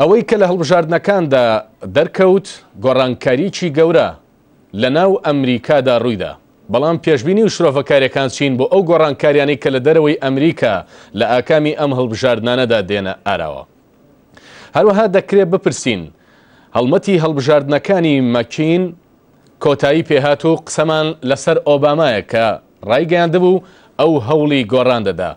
ئەوەی کە لە هەڵبژاردنەکاندا دەرکەوت گۆڕانکارییەکی گەورە لە ناو ئەمریکادا ڕوویدا، بەڵام پێشبینی و شرۆڤەکارییەکان چین بۆ ئەو گۆڕانکارییانەی کە لە دەرەوەی ئەمریکا لە ئاکامی ئەم هەڵبژاردنانەدا دێنە ئاراوە؟ هەروەها دەکرێت بپرسین هەڵمەتی هەڵبژاردنەکانی مەکین کۆتایی پێهات و قسەمان لەسەر ئۆبامایە کە ڕایگەیاندبوو ئەو هەوڵی گۆڕان دەدا.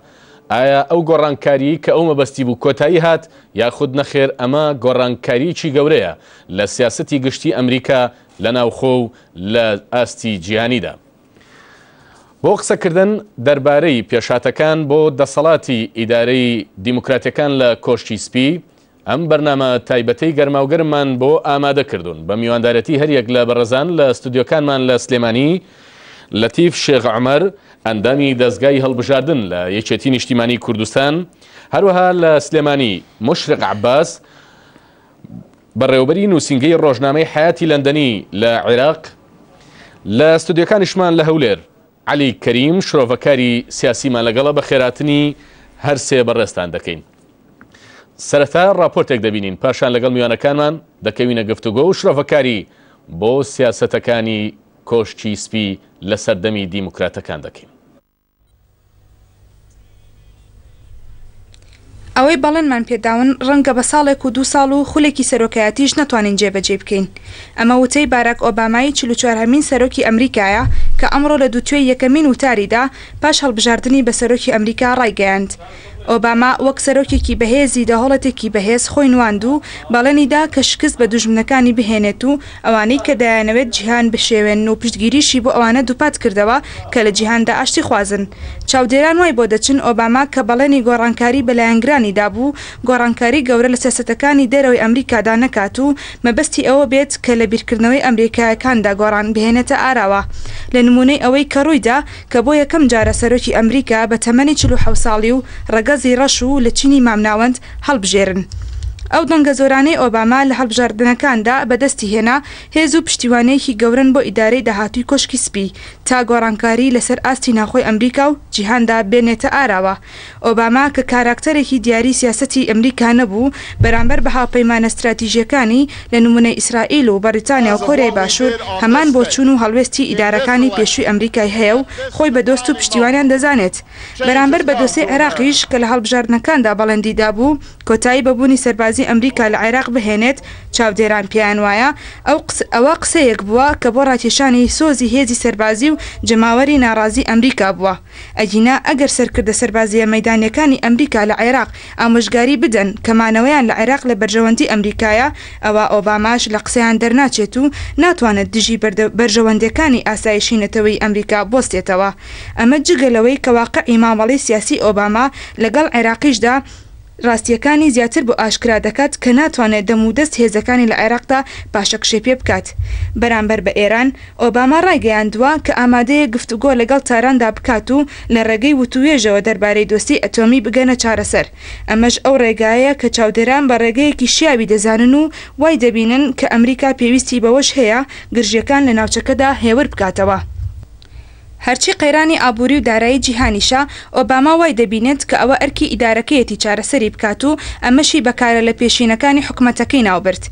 ئایا ئەو گۆڕانکارییەی کە ئەو مەبەستی بوو کۆتایی هات یاخود نەخێر ئەمە گۆڕانکارییەکی گەورەیە لە سیاسەتی گشتی ئەمریکا لە ناوخۆ و لە ئاستی جیهانیدا؟ بۆ قسەکردن دەربارەی پێشهاتەکان بۆ دەسەڵاتی ئیدارەی دیموکراتەکان لە کۆشکی سپی، ئەم بەرنامە تایبەتەی گەرماوگەرممان بۆ ئامادە کردوون بە میواندارەتی هەریەک لە بەڕێزان لە ستۆدیۆکانمان لە سلێمانی، لەتیف شێخ عومەر، ئەندامی دەزگای هەڵبژاردن لە یەکێتی نیشتیمانی کوردستان، هەروەها لە سلێمانی، مشرق عباس، بەڕێوەبەری نووسینگەی ڕۆژنامەی حەیاتی لەندەنی لە عێراق، لە ستۆدیۆکانیشمان لە هەولێر، عەلی کەریم شرۆڤەکاری سیاسیمان لەگەڵە بەخێراتنی هەر سێ بەڕێزتان دەکەین. سەرەتا ڕاپۆرتێک دەبینین پاشان لەگەڵ میوانەکانمان دەکەوینە گفتوگۆ و شرۆڤەکاری بۆ سیاسەتەکانی کۆشکی سپی لە سەردەمی دیموکراتەکان دەکەین. ئەوەی بەڵێنمان پێداون ڕەنگە بە ساڵێک و دوو ساڵ و خولێکی سەرۆکایەتیش نەتوانین جێبەجێی بکەین. ئەمە وتەی باراک ئۆبامای چل و چوار هەمین سەرۆکی ئەمریکایە کە ئەمڕۆ لە دووتوێی یەکەمین وتاریدا پاش هەڵبژاردنی بە سەرۆکی ئەمریکا ڕایگەیاند. ئۆباما وەک سەرۆکێکی بەهێزی دەوهڵەتێکی بەهێز خۆی نواند و بەڵێنیدا کە شکست بە دوژمنەکانی بهێنێت و ئەوانەی کە دەیانەوێت جیهان بشێوێنن و پشتگیریشی بۆ ئەوانە دووپات کردەوە کە لە جیهاندا ئاشتیخوازن. چاودێران وای بۆ دەچن ئۆباما کە بەڵێنی گۆڕانکاری بە لایەنگرانی دابوو، گۆڕانکاری گەورە لە سیاسەتەکانی دەرەوەی ئەمریکادا نەکات و مەبەستی ئەوە بێت کە لە بیرکردنەوەی ئەمریکایەکاندا گۆڕان بهێنێتە ئاراوە لە نموونەی ئەوەی کە ڕوویدا کە بۆ یەکەم جارە سەرۆکی ئەمریکا بە تەمەنی چل و حەوت ساڵی و ڕەگەزی ڕەش و لە چینی مامناوەند هەڵبژێرن. ئەو دەنگە زۆرانەی ئۆباما لە هەڵبژاردنەکاندا بەدەستی هێنا، هێز و پشتیوانییەکی گەورەن بۆ ئیدارەی داهاتووی کۆشکی سپی، تا گۆڕانکاری لەسەر ئاستی ناوخۆی ئەمریکا و جیهاندا بێنێتە ئاراوە. ئۆباما کە کاراکتەرێکی دیاری سیاسەتی ئەمریکا نەبوو، بەرامبەر بە هاوپەیمانە ستراتیژییەکانی، لە نموونەی ئیسرائیل و بەڕیتانیا و کۆریای باشوور، هەمان بۆچوون و هەڵوێستی ئیدارەکانی پێشووی ئەمریکای هەیە و خۆی بە دۆست و پشتیوانیان دەزانێت. بەرامبەر بە دۆسێی عێراقیش کە لە هەڵبژاردنەکاندا بەڵێندی دابوو کۆتایی بە بوونی سەربازی ئەمریکا لە عێراق بهێنێت، چاودێران پێیان وایە ئەو ئەوە قسەیەک بووە کە بۆ ڕاکێشانی سۆزی هێزی سەربازی و جەماوەری ناڕازی ئەمریکا بووە، ئەگینا ئەگەر سەرکردە سەربازییە مەیدانییەکانی ئەمریکا لە عێراق ئامۆژگاری بدەن کە مانەوەیان لە عێراق لە بەرژەوەندی ئەمریکایە ئەوا ئۆباماش لە قسەیان دەرناچێت و ناتوانێت دژی بەرژەوەندێکانی ئاسایشی نەتەوەی ئەمریکا بوەستێتەوە. ئەمە جگە لەوەی کە واقعی مامەڵەی سیاسی ئۆباما لەگەڵ عێراقیشدا راستییەکانی زیاتر بۆ ئاشکرا دەکات کە ناتوانێت دەم و دەست هێزەکانی لە عێراقدا پاشەکشێ پێ بکات بەرامبەر بە ئێران. ئۆباما رایگەیاندووە کە ئامادەیە گفتوگۆ لەگەڵ تاراندا بکات و لە رێگەی وتووێژەوە دەربارەی دۆسیەی ئەتۆمی بگەنە چارەسەر، ئەمەش ئەو رێگایەیە کە چاودێران بە رێگەیەکی شیاوی دەزانن و وای دەبینن کە ئەمریکا پێویستی بەوەش هەیە گرژییەکان لە ناوچەکەدا هێور بکاتەوە. هەرچی قەیرانی ئابووری و دارایی جیهانیشە، ئۆباما وای دەبینێت کە ئەوە ئەرکی ئیدارەکەیەتی چارەسەری بکات و ئەمەشی بە کارە لەپێشینەکانی حکومەتەکەی ناوبرد.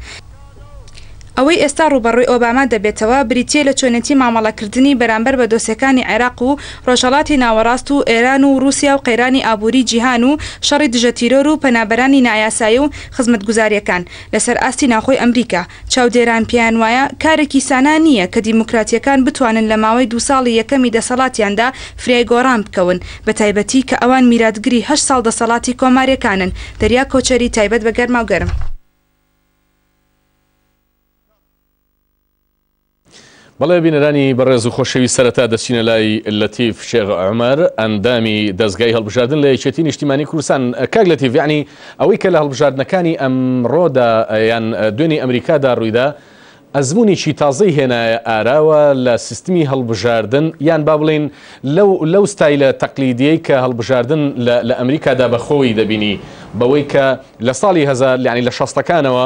ئەوەی ئێستا ڕووبەڕووی ئۆباما دەبێتەوە، بریتییە لە چۆنێتی مامەڵەکردنی بەرامبەر بە دۆسێکانی عێراق و ڕۆژهەڵاتی ناوەڕاست و ئێران و ڕووسیا و قەیرانی ئابووری جیهان و شەڕی دژەتیرۆر و پەنابەرانی نایاسایی و خزمەتگوزارییەکان لەسەر ئاستی ناوخۆی ئەمریکا چاودێران پێیان وایە کارێکی سانا نییە کە دیموکراتییەکان بتوانن لە ماوەی دوو ساڵی یەکەمی دەسەڵاتیاندا فرای گۆڕان بکەون، بەتایبەتی کە ئەوان میراتگری هەشت ساڵ دەسەڵاتی کۆمارییەکانن. دەریا کۆچەری، تایبەت بە گەرماوگەرم. بەڵێ بینەرانی بەڕێز و خۆشەویست سەرەتا دەچینە لای لەتیف شێغ عمر ئەندامی دەستگای هەڵبژاردن لە یەکێتی نیشتیمانی کوردستان کاک لەتیف یعنی ئەوەی کە لە هەڵبژاردنەکانی ئەمڕۆدا یان دوێنی ئەمریکادا ڕوویدا ئەزمونێکی تازەی هێنایە ئاراوە لە سیستمی هەڵبژاردن یان با بڵین لەو لەو ستایلە تەقلیدیەی کە هەڵبژاردن لە ئەمریکادا بەخۆی دەبینی بەوەی کە لە ساڵی هەزار لەعنی لە شەستەکانەوە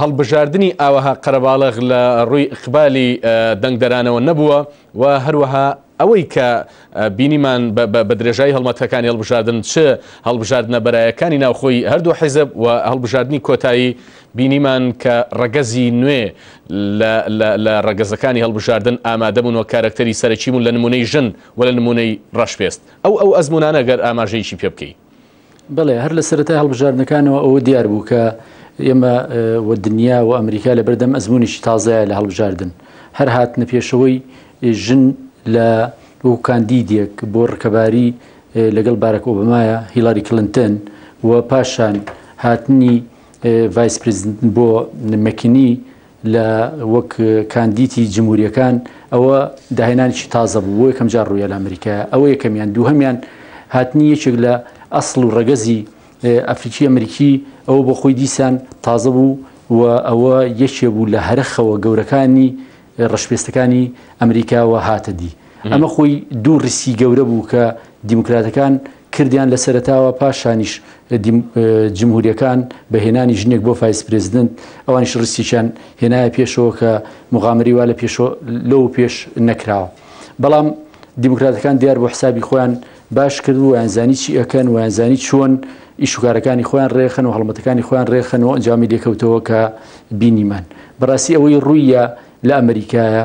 هەڵبژاردنی ئاوەها قەرەباڵغ لە ڕووی ئیقبالی دەنگدەرانەوە نەبووە و هەروەها ئەوەی کە بینیمان بە درێژایی هەڵمەتەکانی هەڵبژاردن چ هەڵبژاردنە بەرایەکانی ناوخۆی هەردوو حیزب و هەڵبژاردنی کۆتایی بینیمان کە ڕەگەزی نوێ لە ڕەگەزەکانی هەڵبژاردن ئامادەبوون و کارەکتەری سەرەکی بوون لە نمونەی ژن و لە نمونەی ڕەشپێست ئەو ئەو ئەزمونانە گەر ئاماژەیەکی پێ بکەیت بەڵێ هەر لە سەرەتای هەڵبژاردنەکانەوە ئەوە دیار بوو کە ئێمە و دنیا و ئەمریکا لە بەردەم ئەزمونیشی تازایە لە هەڵبژاردن هەر هاتنە پێشەوەی ژن لە وەکو کاندیدێک بۆ ڕکەباری لەگەڵ بارەک ئۆبمایە هیلاری کلنتن و پاشان هاتنی ڤایس پرزیدنت بۆ مەکینی لە وەک کاندیتی جمهوریەکان ئەوە داهێنانیی تازە بوو بۆ یەکەم جار ڕوویە لە ئەمریکا ئەوە یەکەمیان دووهمیان هاتنی یەکێک لە ئەسڵ و ڕەگەزی ئەفریکی ئەمریکی ئەوە بۆ خۆی دیسان تازە بوو و ئەوە یەکێ بوو لە هەرخەوە گەورەکانی ڕشپێستەکانی ئەمریکاوە هاتەدی ئەمە خۆی دوو ڕیسی گەورە بوو کە دیموکراتەکان کردیان لە سەرەتاوە پاشانیش جمهوریەکان بە هێنانی ژنێک بۆ فایس پرێزیدنت ئەوانیش ڕیسیان هێنایە پێشەوە کە مغامری وا لە پێشۆ لەو پێش نەکراوە بەڵام دیموکراتەکان دیار بۆ حسابی خۆیان باش کرد و یانزانی چی ئەکەن و یانزانی چۆن ئیشوکارەکانی خۆیان ڕێخن و هەڵمەتەکانی خۆیان ڕێخن و ئەنجامی لێکەوتەوە کە بینیمان بەڕاستی ئەوەی ڕوویە لە ئەمریکایە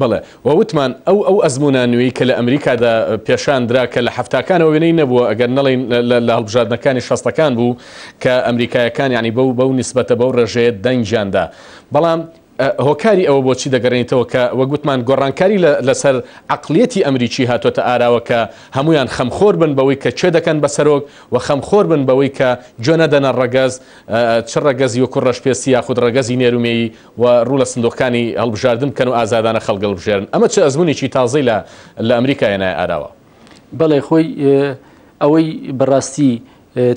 بەڵێ، وە وتمان ئەو ئەو ئەزموونە نوێی کە لە ئەمریکادا پێشان درا کە لە حەفتاکانەوە وێنەی نەبووە ئەگەر نەڵێین لە هەڵبژاردنەکانی شەستەکان بوو کە ئەمریکایەکان یانی بەو بەو نیسبەتە بەو ڕێژەیە دەنگیان دا بەڵام هۆکاری ئەوە بۆچی دەگەڕێنیتەوە کە وەک وتمان گۆڕانکاری لەسەر عەقڵیەتی ئەمریکی هاتۆتە ئاراوە کە هەمویان خەمخۆر بن بەوەی کە کێ دەکەن بە سەرۆک و خەمخۆر بن بەوەی کە گوێ نەدەنە ڕەگەز چ ڕەگەزی وەکو ڕەشپێستی یاخود ڕەگەزی نێرومێیی و ڕوو لە سندوقەکانی هەڵبژاردن بکەن و ئازادانە خەڵک هەڵبژێرن، ئەمە چ ئەزموونێکی تازەی لە لە ئەمریکا هێنایە ئاراوە؟ بەڵێ خۆی ئەوەی بەڕاستی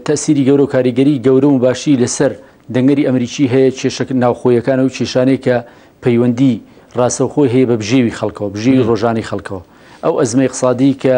تەئسیری گەورە و کاریگەری گەورە و باشی لەسەر دەنگەری ئەمریکی هەیە کێشە ناوخۆیەکانە و کێشانەی کە پەیوەندی ڕاستەوخۆی هەیە بە بژێوی خەڵکەوە، بژێوی ڕۆژانەی خەڵکەوە. ئەو ئەزمە ئیقسادی کە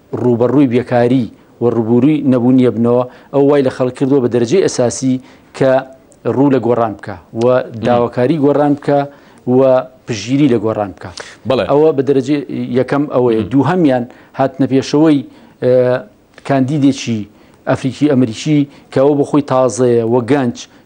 ڕووبەڕووی بێکاری و ڕووبووری نەبوونی ئەبنەوە، ئەوە وای لە خەڵک کردووە بە دەرەجەی ئەساسی کە ڕوو لە گۆڕان بکا و داواکاری گۆڕان بکا و پشتگیری لە گۆڕان بکا. ئەوە بە دەرەجەی یەکەم ئەوەیە. دووهەمیان هاتنەپێشەوەی کاندیدێکی ئەفریکی-ئەمریکی کە ئەوە بۆ خۆی تازەیە و گەنج،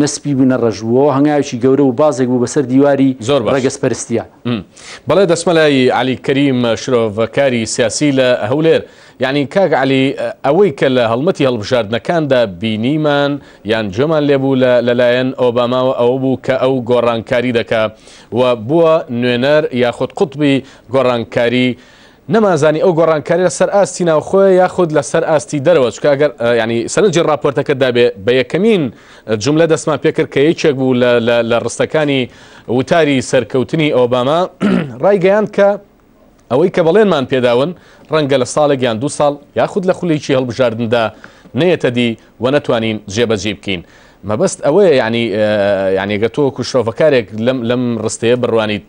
نە سپی بوو نە ڕەش بوو، ئەوە هەنگاوێکی گەورە بوو، بازێک بوو بەسەر دیواری زۆر باش. ڕەگەزپەرستییە. م. بەڵێ دەچمە لای عەلی کەریم شرۆڤەکاری سیاسی لە هەولێر. یەعنی کاک عەلی ئەوەی کە لە هەڵمەتی هەڵبژاردنەکاندا بینیمان یان گوێمان لێ بوو لە لەلایەن ئۆباماوە ئەوە بوو کە ئەو گۆڕانکاری دەکا و بووە نوێنەر یاخود قوتبی گۆڕانکاری نەمانزانی ئەو گۆڕانکاریە لە سەر ئاستی ناوخۆیە یاخود لە سەر ئاستی دەرەوە چکە ئەگەر یانی سەرنجی ڕاپۆرتەکە دابێ بە یەکەمین جوملە دەستمان پێکرد کە یەکێک بوو لە ڕستەکانی وتاری سەرکەوتنی ئۆباما ڕایگەیاند کە ئەوەی کە بەڵێنمان پێداون ڕەنگە لە ساڵێک یان دوو ساڵ یاخود لە خولێکی هەڵبژاردندا نەیەتە دی وە نەتوانین جێ بەجێی بکەین مەبەست ئەوەیە یعنی یعنی گە تۆ وەکو شرۆڤەکارێک لەم لەم ڕستەیە بڕوانیت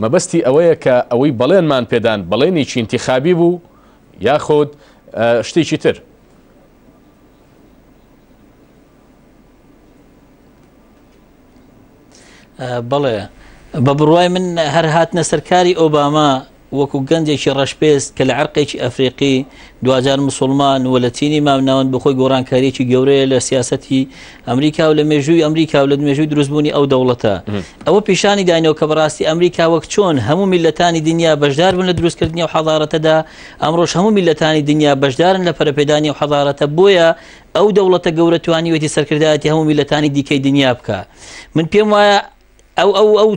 مەبەستی ئەوەیە کە ئەوەی بەڵێنمان پێدان بەڵێنی چینتی خابی بوو یاخود شتێکی تر بەڵێ بە بڕوای من هەر هاتنە سەرکاری ئۆباما وەکو گەنجێکی ڕەشپێست کە لە عرقێکی ئەفریقی دوجار مسلمان و لە چینی مامناوەند بخۆی گۆڕانکاریی گەورەیە لە سیاستی ئەمریکا و لە مێژووی ئەمریکا و لە مێژووی دروستبوونی ئەو دەوڵەتە ئەوە پیشانی داینەوە کە بەڕاستی ئەمریکا وەک چۆن هەموو میلەتانی دنیا بەشدار بن لە دروستکردنی و حەزارەتەدا ئەمڕۆژ هەموو میلەتانی دنیا بەشدارن لە پەرپێدانی و حەزارەتە بۆیە ئەو دەوڵەتە گەورە توانیوێتی سەرکردایەتی هەموو میللەتانی دیکەی دنیا بکا من پێم وایە ئەو ئەو ئەو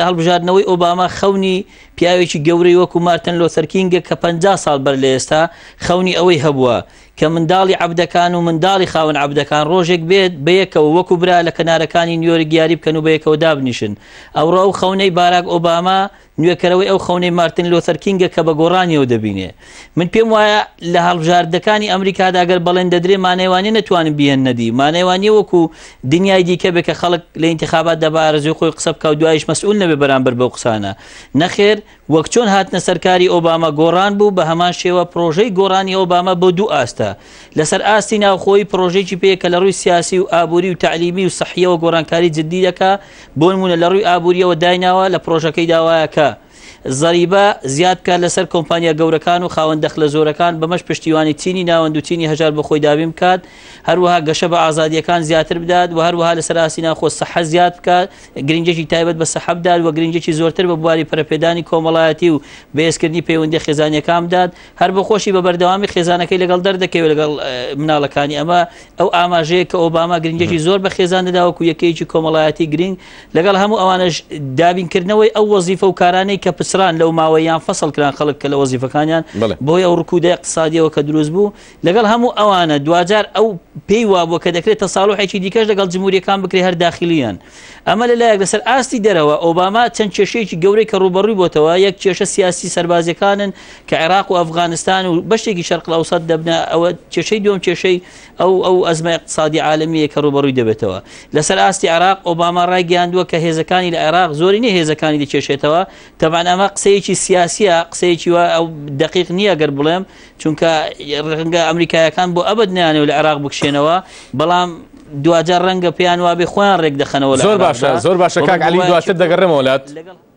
هەڵبژاردنەوەی ئۆباما خەونی پیاوێکی گەورەی وەکو مارتن لۆسەرکینگە کە پ ساڵ بەر لە ئێستا خەونی ئەوەی هەبووە کە منداڵی عبدەکان و منداڵی خاون عبدەکان ڕۆژێک بێت بەیەکەوە وەکو برا لە کەنارەکانی نیۆرگیاری بکەن و بەیەکەوە دابنیشن ئەوڕە ئەو خەونەی باراک ئۆباما نوێکەرەوەی ئەو خەونەی مارتن لۆثەر کینگە کە بە گۆڕانیەوە دەبینێ. من پێم وایە لە هەڵبژاردەکانی ئەمریکادا گەر بەڵێن دەدرێ مانای وانیە نەتوانن بیهێننە دی، مانای وانیە وەکو دنیای دیکە بێ کە خەڵک لە ئینتیخاباتدا بە ئارەزوی خۆی قسە بکا و دوایش مەسئول نەبێ بەرامبەر بەو قسانە. نەخێر، وەک چۆن هاتنە سەرکاری ئۆباما گۆڕان بوو، بە هەمان شێوە پڕۆژەی گۆڕانی ئۆباما بۆ دوو ئاستە. لە سەر ئاستی ناوخۆیی پڕۆژەیەکی پێیە کە لە ڕووی سیاسی و ئابوری و تەعلیمی و سەحیەوە گۆڕانکاری جدی دەکا بۆ نموونە لە ڕووی ئابووریەوە دایناوە لە پرۆژەکەی داوایە کە زەریبە زیاد بکات لەسەر کۆمپانیا گەورەکان و خاوەن دەخلە زۆرەکان بەمەش پشتیوانی چینی ناوەند و چینی هەژار بۆ خۆی دابین بکات هەروەها گەشە بە ئازادیەکان زیاتر بدات و هەروەها لەسەر ئاسی ناخۆ سەحە زیاد بکات گرنگێکی تایبەت بە سەحە بدات و گرنگێکی زۆرتر بە بواری پەرپێدانی کۆمەڵایەتی و بەێزکردنی پەیوەندی خێزانەکان بدات هەر بە خۆشی بە بەردەوامی خێزانەکەی لەگەڵ دەردەکەوێت لەگەڵ مناڵەکانی ئەمە ئەو ئاماژەیە کە ئۆباما گرنگیەکی زۆر بە خێزان دەدا وەکو یەکەیەکی کۆمەڵایەتی گرنگ لەگەڵ هەموو ئەوانش دابینکردنەوەی ئەو وەزیفە و کارانەی کە پچران لەو ماوەیان فەسەڵ کران خەڵک کە لە وەزیفەکانیان بۆی ئەو ڕکوودە اقتصادیەوە کە دروست بوو لەگەڵ هەموو ئەوانە دوجار ئەو پێی وابووە کە دەکرێت تەساڵحێکی دیکەش لەگەڵ جمهوریەکان بکرێ هەر داخلیان ئەمە لە لایەک لەسەر ئاستی دەرەوە ئۆباما چەند کێشەیەکی گەورەی کە ڕوبەڕووی بۆتەوە یەک کێشە سیاسی سەربازیەکانن کە عێراق و ئەفغانستان و بەشێکی شەرقل ئەوسەد دەبنە ئەوە کێشەی دوم کێشەی ئەو ئەو ئەزمە اقتصادی عالمیە کە ڕوبەڕووی دەبێتەوە لەسەر ئاستی عراق ئۆباما ڕایگەیاندووە کە هێزەکانی لە عێراق زۆری نیە هێزەکانی دەکێشێتەوە تەبان ئەمە قسەیەکی سیاسیە قسەیەکی وە ئەو دقیق نییە گەر بڵێم چونکە ڕنگە ئەمریکایەکان بۆ ئەبد نیانەوە لە عێراق بکشێنەوە بەڵام دوجار ڕەنگە پێیان وابێ خۆیان ڕێک دەخەنەوە زۆر باشە زۆر باشەکان علی دواتر دەگەڕێمەوەلات.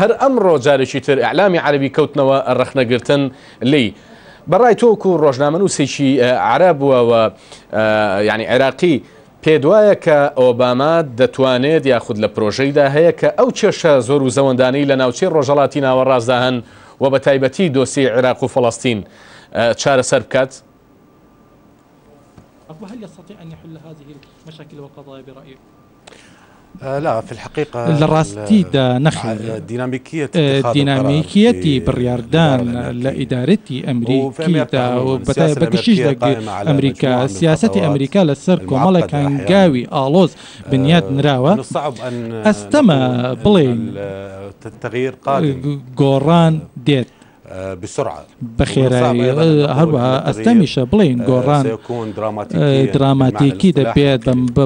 هەر ئەمڕۆ جارێکی تر ئیعلامی عەرەبی کەوتنەوە ڕەخنەگرتن لێی. بە ڕای تۆ وەکو ڕۆژنامەنووسێکی عەرەب و یانی عێراقی پێتوایە کە ئۆباما دەتوانێت یاخود لە پرۆژەیدا هەیە کە ئەو کێشە زۆر و زەوەندانەی لە ناوچەی ڕۆژەڵاتی ناوەڕاستدا هەن و بە تایبەتی دۆسیەی عێراق و فەڵەستین چارەسەر بکات؟ لەڕاستیدا نەخێر، دینامیکییەتی بڕیاردان لە ئیدارەی ئەمریکیدا و بەگشتیش لە ئەمریکا، سیاسەتی ئەمریکا لەسەر کۆمەڵێک هەنگاوی ئاڵۆز بنیات نراوە، ئەستەمە بڵێین گۆڕان دێت. بەخێرایی هەروەها ئەستەمیشە بڵێین گۆڕان دراماتیکی دەبێت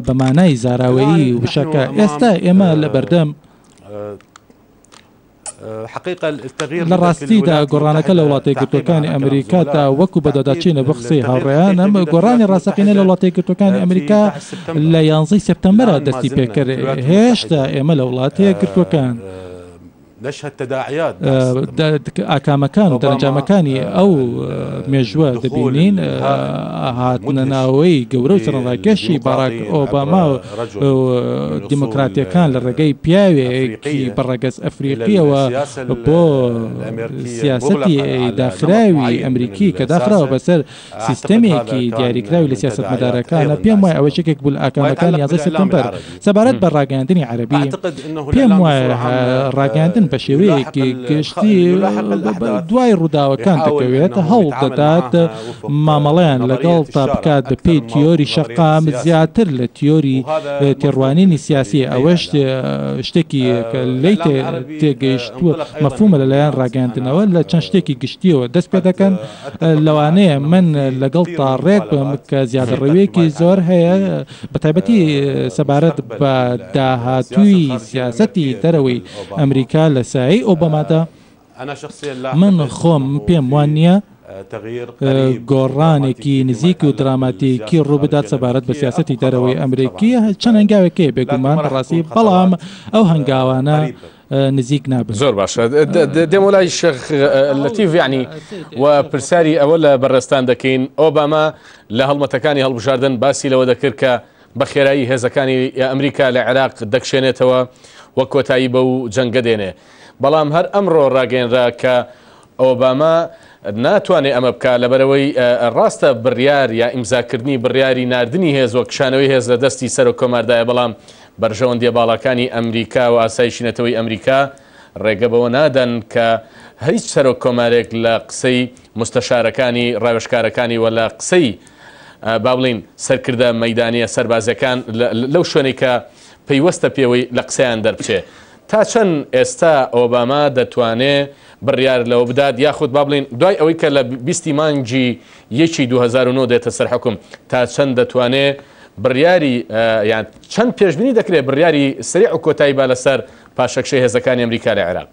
بە مانای زاراوەیی وشەکە ئێستا ئێمە لە بەردەم لە ڕاستیدا گۆڕانەکە لە وڵاتی گرتوەکانی ئەمریکا تا وەکو بەدەداچینە بە قسەی هاوڕێیان ئەم گۆڕانی ڕاستەقینە لە وڵاتی گرتوەکانی ئەمریکا لە یانزەی سپتەمبەرە دەستی پێکرد هێشتا ئێمە لە وڵاتەیە گرتوەکان. ئاکامەکان و دەرەنجامەکانی ئەو مێژووە دەبینین، هاتنەناوەی گەورە و سەرەڕایکێشی باراک ئۆباما و دیموکراتییەکان لە ڕێگەی پیاوێکی بە ڕەگەز ئەفریقییەوە بۆ سیاسەتی داخراوی ئەمریکی کە داخراوە بەسەر سیستەمێکی دیاریکراوی لە سیاسەتمەدارەکانە، پێموایە ئەوەش یەکێک بوو لە ئاکامەکانی یازدەی سێپتەمبەر. سەبارەت بە ڕاگەیاندنی عەرەبی، پێموایە ڕاگەیاندن بە شێوەیەکی گشتی دوای ڕووداوەکان دەکەوێت، هەوڵدەدات مامەڵەیان لەگەڵدا بکات بەپێی تیۆری شەقام زیاتر لە تیۆری تێڕوانینی سیاسی، ئەوەش شتێکی کە لێی تێگەیشتووە مەفهوومە لەلایەن ڕاگەیاندنەوە لە چەند شتێکی گشتییەوە دەستپێدەکەن. لەوانەیە من لەگەڵتدا ڕێک بم کە زیادەڕەوییەکی زۆر هەیە، بەتایبەتی سەبارەت بە داهاتووی سیاسەتی دەرەوەی ئەمریکا لە سایەی ئۆبامادا. من خۆم پێم وا نییە گۆڕانێکی نزیک و دراماتیکی ڕوو بدات سەبارەت بە سیاسەتی دەرەوەی ئەمریکی، چەند هەنگاوێک هەیە بێگومان بەڕاستی، بەڵام ئەو هەنگاوانە، نزیک نابن زۆر باشە دێمە لای شێخ لەتیف یعنی و پرسیاری ئەوە لە بەڕێستان دەکەین ئۆباما لە هەڵمەتەکانی هەڵبژاردن باسی لەوە دەکرد کە بە خێرایی هێزەکانی ئەمریکا لە عێراق دەکشێنێتەوە وە کۆتایی بە و جەنگە دێنێ بەڵام هەر ئەمڕۆ ڕاگەێنرا کە ئۆباما ناتوانێت ئەمە بکات، لەبەرئەوەی ڕاستە بڕیار یا ئیمزاکردنی بڕیاری ناردنی هێز و کشانەوەی هێز لە دەستی سەرۆک کۆماردایە، بەڵام بەرژەوەندییە باڵاکانی ئەمریکا و ئاسایشی نەتەوەی ئەمریکا ڕێگە بەوە نادەن کە هیچ سەرۆک کۆمارێک لە قسەی موستەشارەکانی ڕاوێژکارەکانی و لە قسەی با بڵێین سەرکردە مەیدانییە سەربازییەکان لەو شوێنەی کە پەیوەستە پێوەی لە قسەیان دەربچێت تا چەند ئێستا ئۆباما دەتوانێ بڕیار لەوە بدات یاخود با بڵێین دوای ئەوەی کە لە بیست ی مانگی یەکی دوو هەزار و نۆ دێتە سەر حوکم تا چەند دەتوانێ بڕیاری یان چەند پێشبینی دەکرێت بڕیاری سەریع و کۆتایی با لەسەر پاشەکشەی هێزەکانی ئەمریکا لە عێراق؟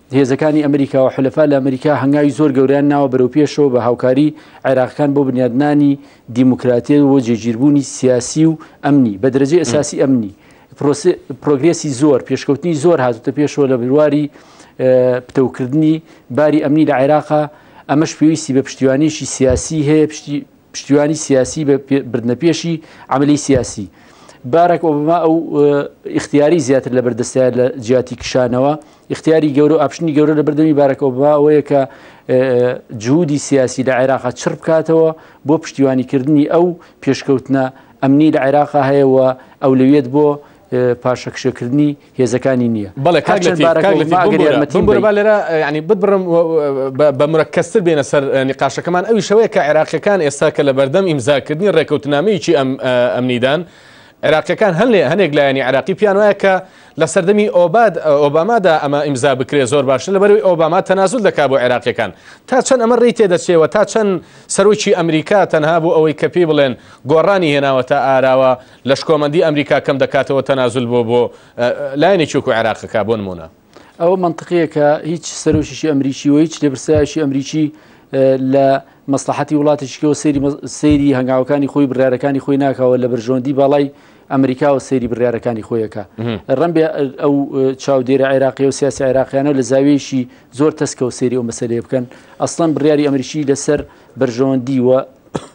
هێزەکانی ئەمریکا و حلەفا لە ئەمریکا هەنگاوی زۆر گەوریان ناوە بەرەو پێشەوە بە هاوکاری عێراقکان بۆ بنیادنانی دیموکراتیە و جێگیربوونی سیاسی و ئەمنی بە درەجی ئەساسی ئەمنی پرۆگرێسی زۆر پێشکەوتنی زۆر هاتوتە پێشەوە لە برواری پتەوکردنی باری ئەمنی لە عێراقا ئەمەش پێویستی بە پشتیوانیشی سیاسی هەیە پشتی پشتیوانی سیاسی بە بردنە پێشی ئەمەلی سیاسی بارەک ئۆبما ئەو اختیاری زیاتر لە بەردەستە لە جیاتی کشانەوە اختیاری گەورە ئاپشنی گەورە لە بردەمی بارەک ئۆبما ئەوەیە کە جوودی سیاسی لە عێراقا چڕ بکاتەوە بۆ پشتیوانیکردنی ئەو پێشکەوتنە ئەمنی لە عێراقا هەیەەوە ئەو لەوێت بۆ پاشەکشەکردنی هێزەکانی نییە بەڵێ کاک هەرچەند لەتیف بارەکە کاک لەتیف وما ئەگەر بمبورە یارمەتیم بمبورە با بەی لێرە یانی بتبڕم و و بە بە مرەکەزتر بێنە سەر اه، نیقاشەکەمان ئەوی شەوەیە کە عێراقیەکان ئێستا کە لە بەردەم ئیمزاکردنی ڕێکەوتنامەیەکی ئەم اه، ئەمنیدان عێراقیەکان هەن لێ هەنێک لایەنی عێراقی پیان وایە کە لە سەردەمی ئۆباد اه، ئۆبامادا ئەمە ئیمزا بکرێ زۆر باشتر لەبەرەوەی ئۆباما تەنازول دەکا بۆ عێراقیەکان تا چەند ئەمە ڕێی تێدەچێ و تا چەند سەرۆکی ئەمریکا تەنها بۆ ئەوەی کە پێی بڵێن گۆڕانی هێناوەتە ئاراوە لە شکۆمەندی ئەمریکا کەم دەکاتەوە تەنازول بۆ بۆ لایەنێکی وەکو عێراق دەکات بۆ نموونە. ئەوە مەنتقییە کە هیچ سەرۆکیشی ئەمریکی و هیچ لێپرسراوێکی ئەمریکی لە مەسلحەتی وڵاتێکیکەوە سەیری هەنگاوەکانی خۆی بڕارەکانی خۆی ناکەوە لە بەرژۆندی باڵای ئەمریکاوە سەیری بڕارەکانی خۆیەکە ڕەمبێ ئەو چاودێرە عێراقی و سیاسی عێراقیانە لە زاویەکی زۆر تەسکەوە سەیری ئەو مەسلەیە بکەن ئەسڵەن بڕیاری ئەمریکی لەسەر بەرژەوەندی و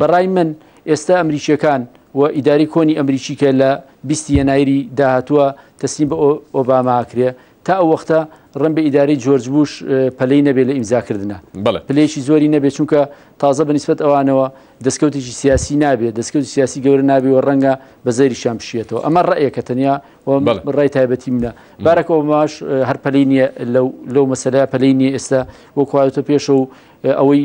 بەڕای من ئێستا ئەمریکیەکان و ئیدارەی کۆنی ئەمریکی کە لە بیستی یەنایری داهاتووە تەسلیم بە ئۆباماکرێ تا ئەو وەختە ڕم بە ئیدارەی جۆرج بوش پەلەی نەبێ لە ئیمزاکردە پلێکی زۆری نەبێ چونکە تازە بەنیسبەت ئەوانەوە دەستکەوتێکی سیاسی نابێت دەستکەوت سیاسی گەورە نابێ و ڕەنگە بە زەریشان بشێتەوە ئەمە ڕێکە تەنیا ڕای تایبەتی منە بارەکە ئەوماش هەر پەلی نیە لەو لەو مەسەلە پەلی نیە ئێستا وەکواتە پێشە و ئەوەی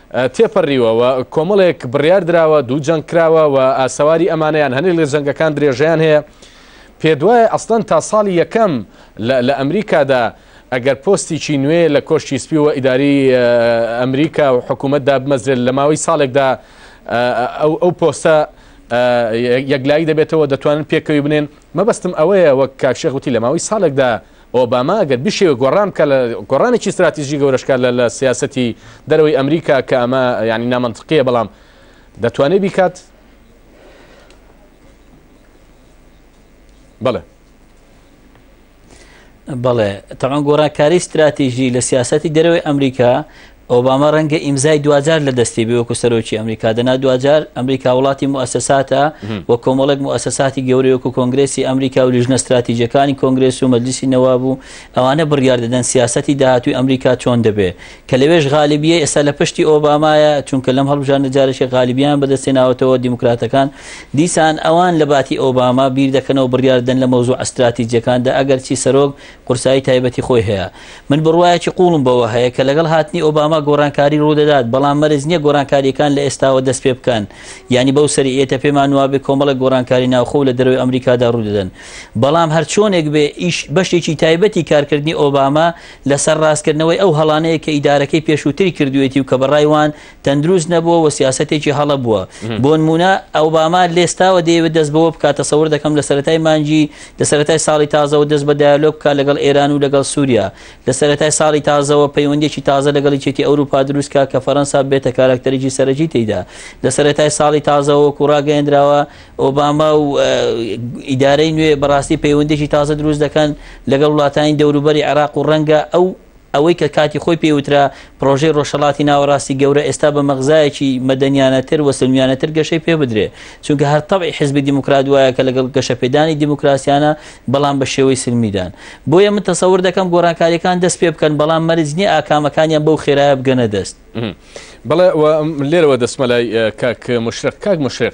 تێپەریوە و کۆمەڵێک بڕیار دراوە، دوو جەنگ کراوە و ئاسەواری ئەمانەیان هەنێک لە جەنگەکان درێژەیان هەیە. پێتوایە ئەسڵەن تا ساڵی یەکەم لە لە ئەمریکادا ئەگەر پۆستیکی نوێ لە کۆشکی سپی و ئیدارەی ئەمریکا و حکوومەت دابمەزرێت لە ماوەی ساڵێکدا ئەو ئەو پۆستە یەکلایی دەبێتەوە دەتوانن پێکەوی بنێن مەبەستم ئەوەیە وەک کاک شێخ وتی لە ماوەی ساڵێکدا ئۆباما ئەگەر بشێوێ گۆڕان بکات لە گۆڕانێکی ستراتیژی گەورەش بکات لە لە سیاسەتی دەرەوەی ئەمریکا کە ئەمە یانی نامەنتقیە بەڵام دەتوانێت بیکات بەڵێ بەڵێ تەمان گۆڕانکاری ستراتیژی لە سیاستی دەرەوەی ئەمریکا ئۆباما ڕەنگە ئیمزای دواجار لە دەستی بێ وەکو سەرۆکی ئەمریکا دەنا دواجار ئەمریکا وڵاتی موسساتە و کۆمەڵێک موسساتی گەورەی وەکو کۆنگرسی ئەمریکا و لیژنە استراتیژەکانی کۆنگرس و مەجلیسی نەواب و ئەوانە بڕیار دەدەن سیاسەتی داهاتوی ئەمریکا چۆن دەبێ کە لەوێش غالیبیە ئێستا لە پشتی ئۆبامایە چونکە لەم هەڵبژاردنە جارێکی غالیبیان بەدەستێناوەتەوە دیموکراتەکان دیسان ئەوان لە باتی ئۆباما بیر دەکەنەوە بڕیاردەن لە مەوزوع استراتیجەکاندا ئەگەرچی سەرۆک قورسایی تایبەتی خۆی هەیە. من بڕوایەکی قووڵم بەوە هەیە کە لەگەڵ هاتنی ئۆباما گۆڕانکاری ڕوودەدات، بەڵام مەرج نییە گۆڕانکارییەکان لە ئێستاوە دەست پێ بکەن. یانی بەو سەری ئێتە پێمان وابێ کۆمەڵێک گۆڕانکاری ناوخۆ و لە دەرەوەی ئەمریکادا ڕوودەدەن. بەڵام هەرچۆنێک بێ ئیش بەشێکی تایبەتی کارکردنی ئۆباما لەسەر ڕاستکردنەوەی ئەو هەڵانەیە کە ئیدارەکەی پێشووتری کردوویەتی و کە بە ڕای وان تەندروست نەبووە و سیاسەتێکی هەڵە بووە. بۆنموونە، ئۆباما لێستاوە دەیەوێت دەست بەوە بکات، تەسەور دەکەم لە سەرەتای مانگی، لە سەرەتای ساڵی تازەوە دەست بە دایەلۆگ بکات لەگەڵ ئێران و لەگەڵ سووریا. لە سەرەتای ساڵی تازەوە پەیوەندییەکی تازە لەگەڵ یەکێتی ئەوروپا دروست بکات کە فەرەنسا ببێتە کاراکتەرێکی سەرەکی تێیدا. لە سەرەتای ساڵی تازەوە وەکو ڕاگەیەندراوە، ئۆباما و ئیدارەی نوێ بەڕاستی پەیوەندییەکی تازە دروست دەکەن لەگەڵ وڵاتانی دەوروبەری عێراق و ڕەنگە ئەو ئەوەی کە کاتی خۆی پێی وترا پرۆژەی ڕۆژهەڵاتی ناوەڕاستی گەورە ئێستا بە مەغزایەکی مەدەنیانەتر و سلمیانەتر گەشەی پێ بدرێ چونکە هەر تەبعی حزبی دیموکرات وایە کە لەگەڵ گەشەپێدانی دیموکراسیانە بەڵام بە شێوەی سلمیدان بۆیە من تەسەور دەکەم گۆڕانکاریەکان دەست پێ بکەن بەڵام مەرج نییە ئاکامەکانیان بەو خێرایە بگەنە دەست بەڵێ لێرەوە دەستمەلای کاک مشرق کاک مشرق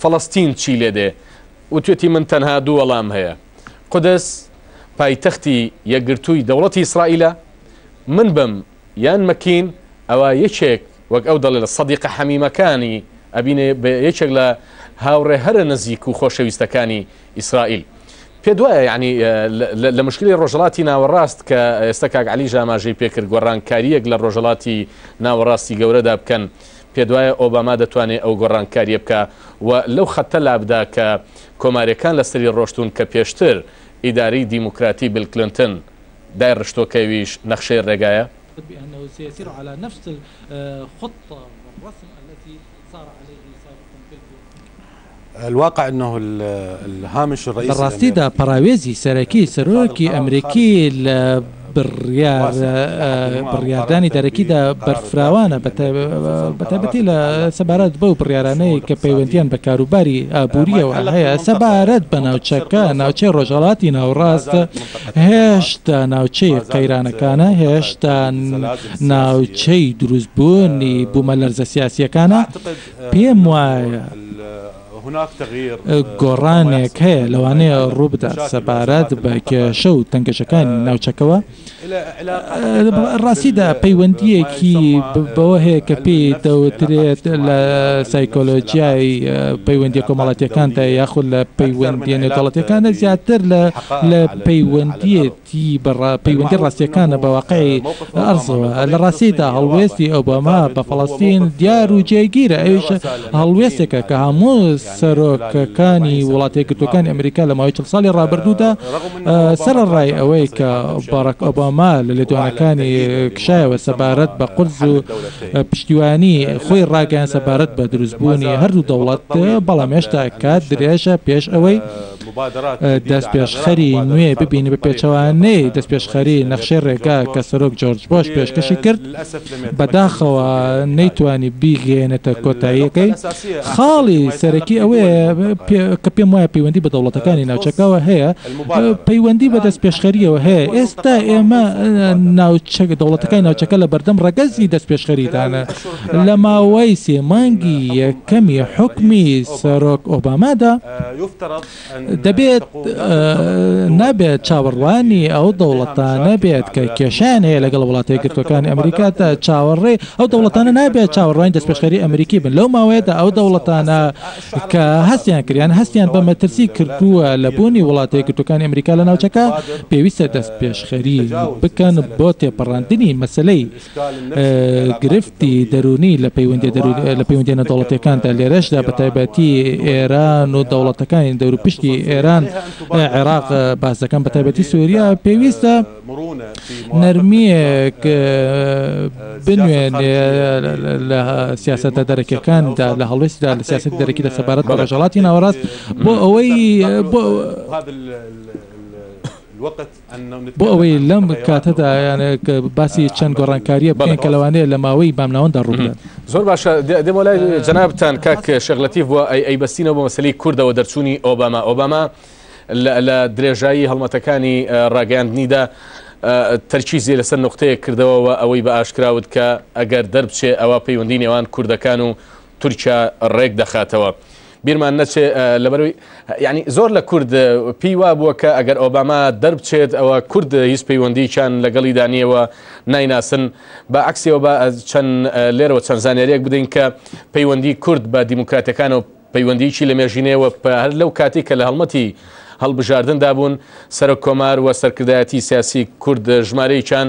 فەڵەستین چی لێ دێ؟ وتوێتی من تەنها دوو وەڵام هەیە، قودس پایتەختی یەکگرتووی دەوڵەتی ئیسرائیلە، من بم یان مەکین ئەوا یەکێک وەک ئەو دەڵێ لە سەدیقە حەمیمەکانی ئەبینێ بە یەکێک لە هاوڕێ هەرە نزیک و خۆشەویستەکانی ئیسرائیل پێت وایە یانی لە مشکلی ڕۆژەڵاتی ناوەڕاست کە ئێستا کاک علی ژاماژەی پێکرد گۆڕانکاریەک لە ڕۆژەڵاتی ناوەڕاستی گەورەدا بکەن پێت وایە ئۆباما دەتوانێت ئەو گۆڕانکاریە بکە و لەو خەتە لابدا کە کۆمارەکان لەسەری ڕۆشتون کە پێشتر ئیداری دیموکراتی بیل کلنتن دای ڕشتوە کەویش نەخشەی ڕێگایە بأنه سيسير على نفس الخطة والرسم التي سار عليه سابقا في الكويت. لە ڕاستیدا پەڕاوێزی سەرەکی سەرۆکی ئەمریکی لە بڕیاردانی دەرەکیدا بەرفراوانە، بەتایبەتی لە سەبارەت بەو بڕیارانەی کە پەیوەندییان بە کاروباری ئابوورییەوە هەیە. سەبارەت بە ناوچەکە، ناوچەی ڕۆژهەڵاتی ناوەڕاست هێشتا ناوچەی قەیرانەکانە، هێشتا ناوچەی دروستبوونی بوومەلەرزە سیاسییەکانە. پێم وایە گۆڕانێک هەیە لەوانەیە ڕووبدات سەبارەت بە کێشە و تەنگەژەکانی ناوچەکەوە. لە ڕاستیدا پەیوەندییەکی بەوە هەیە کە پێی دەوترێت لە سایکۆلۆژیای پەیوەندییە کۆمەڵاتییەکاندا یاخود لە پەیوەندییە نێودەوڵەتییەکاندا زیاتر لە پەیوەندییە تی بە ڕا پەیوەندی ڕاستییەکانە بە واقعی ئەرزەوە. لە ڕاستیدا هەڵوێستی ئۆباما بە فەڵەستین دیار و جێگیرە، ئەویش هەڵوێستێکە کە هەموو سەرۆکەکانی وڵاتەیەکگرتووەکانی ئەمریکا لە ماوەی چڵ ساڵی ڕابردوودا سەرەڕای ئەوەی کە باراک ئۆباما لە لێدوانەکانی کشایەوە سەبارەت بە قودس و پشتیوانی خۆی ڕاگەیاند سەبارەت بە دروستبوونی هەردوو دەوڵەت، بەڵام هێشتا کات درێژە پێش ئەوەی. دەستپێشخەری نوێ ببینی بە پێچەوانەی دەستپێشخەری نەخشەی ڕێگا کە سەرۆک جۆرج بۆش پێشکەشی کرد بەداخەوە نەیتوانی بیگەیەنێتە کۆتاییەکەی خاڵی سەرەکی ئەوەیە کە پێم وایە پەیوەندی بە دەوڵەتەکانی ناوچەکەوە هەیە پەیوەندی بە دەستپێشخەریەوە هەیە ئێستا ئێمە ناوچە دەوڵەتەکانی ناوچەکە لە بەردەم ڕەگەزی دەستپێشخەریدانە لە ماوەی سێ مانگی یەکەمی حوکمی سەرۆک ئۆبامادا. دەبێت نابێت چاوەڕوانی ئەو دەوڵەتانە بێت کە کێشەیان هەیە لەگەڵ وڵاتە یەکگرتووەکانی ئەمریکادا چاوەڕێ ئەو دەوڵەتانە نابێت چاوەڕوانی دەستپێشخەری ئەمریکی بن لەو ماوەیەدا ئەو دەوڵەتانە کە هەستیان کردیان هەستیان بە مەترسی کردووە لە بوونی وڵاتە یەکگرتووەکانی ئەمریکا لە ناوچەکە پێویستە دەستپێشخەری بکەن بۆ تێپەڕاندنی مەسەلەی گرفتی دەروونی لە پەیوەندییە نێودەوڵەتییەکاندا، لێرەشدا بەتایبەتی ئێران و دەوڵەتەکانی دەوروپشتی ئێران، عێراق باس دەکەم، بەتایبەتی سووریا، پێویستە نەرمییەک بنوێنێ لە سیاسەتە دەرەکییەکاندا، لە هەڵوێستدا لە سیاسەتی دەرەکیدا سەبارەت بە ڕۆژهەڵاتی ناوەڕاست بۆ ئەوەی. بۆ ئەوەی لەم کاتەدا باسی چەند گۆڕانکارییە بڵێن کە لەوانەیە لە ماوەی بامناوەندا ڕووبدات زۆر باشە دێمە لای جەنابتان کاک شەغلەتی بووە ئەی ئەی بەستینەوە بۆ مەسلی کوردەوە دەرچوونی ئۆباما ئۆباما لە درێژایی هەڵمەتەکانی ڕاگەاندنیدا تەرکیزی لەسەر نقطەیە کردەوەەوە ئەوەی بە ئاشکراوت کە ئەگەر دەربچێ ئەوە پەیوەندی نێوان کوردەکان و تورکیا ڕێک دەخاتەوە. بیرمان نەچێ لەبەروی یعنی زۆر لە کورد پێی وا بووە کە ئەگەر ئۆباما دەربچێت ئەوە کورد هیچ پەیوەندیکیان لەگەڵی دانیەوە نایناسن بە عکسەوە بە چەند لێرەوە چەند زانانیارێک بدەین کە پەیوەندی کورد بە دیموکراتەکانەوە پەیوەندیکی لە مێژینەوە هەر لەو کاتی کە لە هەڵمەتی هەڵبژاردندا بوون سەرۆک کۆمار و سەرکردایەتی سیاسی کورد ژمارەیەکیان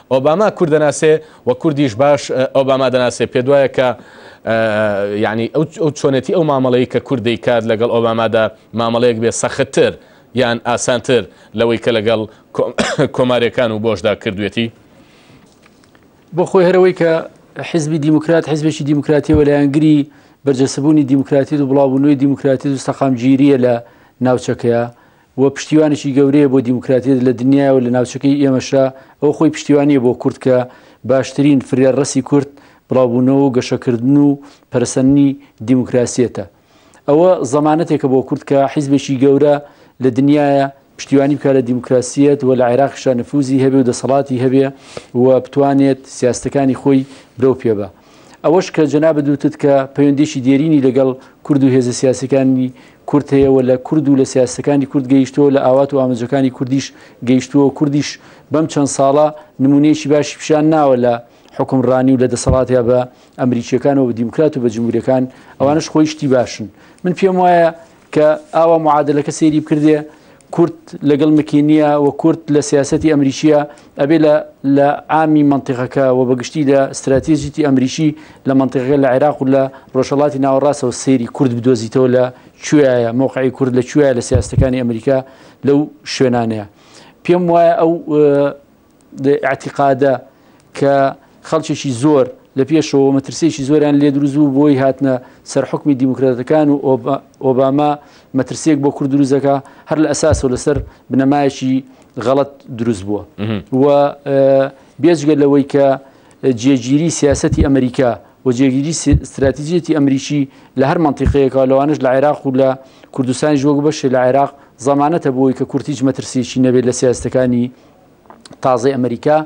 ئۆباما کورد دەناسێ و کوردیش باش ئۆباما دەناسێ، پێتوایە کە یانی ئەو چۆنێتی ئەو مامەڵەی کە کورد دەیکات لەگەڵ ئۆبامادا مامەڵەیەک بێ سەختتر یان ئاسانتر لەوەی کە لەگەڵ کۆماریەکان و بۆشدا کردوێتی؟ بۆ خۆی هەرەوەی کە حیزبی دیموکرات حیزبێکی دیموکراتی و لایەنگری بەرجەسەبوونی دیموکراتی و بڵاوبوونەوەی دیموکراتی و سەقامگیریە لە ناوچەکەیە و پشتیوانێکی گەورەیە بۆ دیموکراتیەت لە دنیا و لە ناوچەکەی ئێمەشا ئەو خۆی پشتیوانیە بۆ کورد کە باشترین فرە ڕەسی کورد بڵاوبوونەوە و گەشەکردن و پەرسەننی دیموکراسیەتە ئەوە زەمانەتێکە بۆ کورد کە حیزبێکی گەورە لە دنیاە پشتیوانی بکە لە دیموکراسیەت و لە عێراقشە نفوزی هەبێ و دەسەڵاتی هەبێ و بتوانێت سیاستەکانی خۆی برەو پێ بە ئەوەش کە جەنابت وتت کە پەیوەندیشی دێرینی لەگەڵ کورد و هێزە سیاسەکانی کورد هەیەەوە لە کورد و لە سیاستەکانی کورد گەیشتووە لە ئاوات و ئاماجەکانی کوردیش گەیشتووە کوردیش بەم چەند ساڵە نمونەیەکی باشی پیشان ناوە لە حکمڕانی و لە دەسەڵاتیا بە ئەمریکیەکانەوە دیموکرات و بە جمهورەکان ئەوانش خۆی شتی باشن من پێم وایە کە ئاوا معادلەکە سەیری بکردێ کورد لەگەڵ مکینیە و کورد لە سیاستی ئەمریکیە ئەبێ لە ئامی منطقەکە و بەگشتی لە استراتیژیتی ئەمریکی لە منطقەکە لە عێراق و لە ڕۆژەڵاتی ناوەڕاستەوە سێری کورد بدۆزیتەوە لە کوێایە مۆقعی کورد لە کوێە لە سیاستەکانی ئەمریکا لەو شوێنانەیە پێم وایە ئەو ئیعتیقادە کە خەڵکێکی زۆر لە پێشەوە مەترسێکی زۆریان لێ دروست بوو بۆی هاتنە سەر حکومی دیموکراتەکان و ئۆباما مەترسێک بۆ کورد دروزەکە هەر لە ئەساسەوە لەسەر بنەمایەکی غەڵت دروست بووە و بێجگە لەوەی کە جێگیری سیاستی ئەمریکا و جێگیری استراتیجێتی ئەمریکی لە هەر منتیقەیەکە لەوانش لە عێراق و لە کوردستانی ژۆک بەشێ لە عێراق زمانەتە بۆی کە کورتیج مەترسیی نەبێت لە سیاستەکانی تازەی ئەمریکا